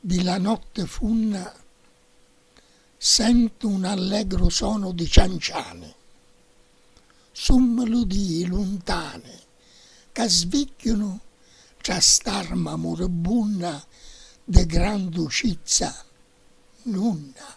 di la notte funna sentu un allegru sonu di cianciani, su meludii luntani ca svigghiunu tra st'arma muribunna di gran ducizza nunna.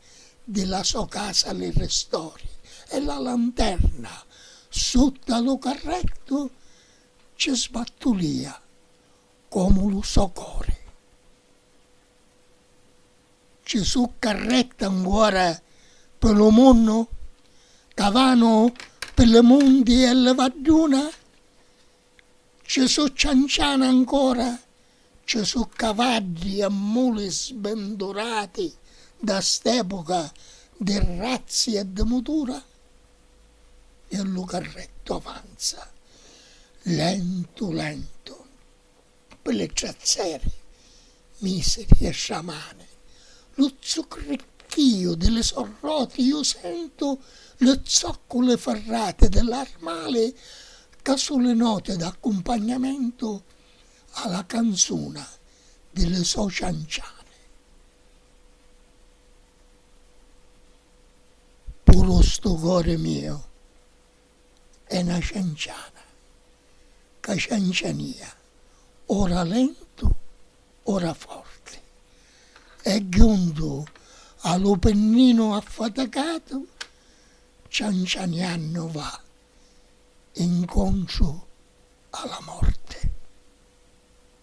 di la so casa li ristori e la lanterna sutta lu carrettu ci sbattulìa comu lu so cori. Ci su' carretti ancora pi lu munnu ca vanu pi li munti e li vadduna? Ci su' cianciani ancora, ci su' cavaddi e muli sbindurati da st'epuca di razzi e di mutura, e lu carrettu avanza lentu lentu. Ppi li trazzeri misi pi stra mani, lu zuccricchìu di li so roti iu sentu li zocculi firrati di l'armali ca su li noti d'accumpagnamentu a la canzuna di li so cianciani. Puru stu cori miu è na cianciana ca ciancianìa ora lentu ora forti e juntu a lu penninu affaticatu ciancianiannu va incontru a la morti.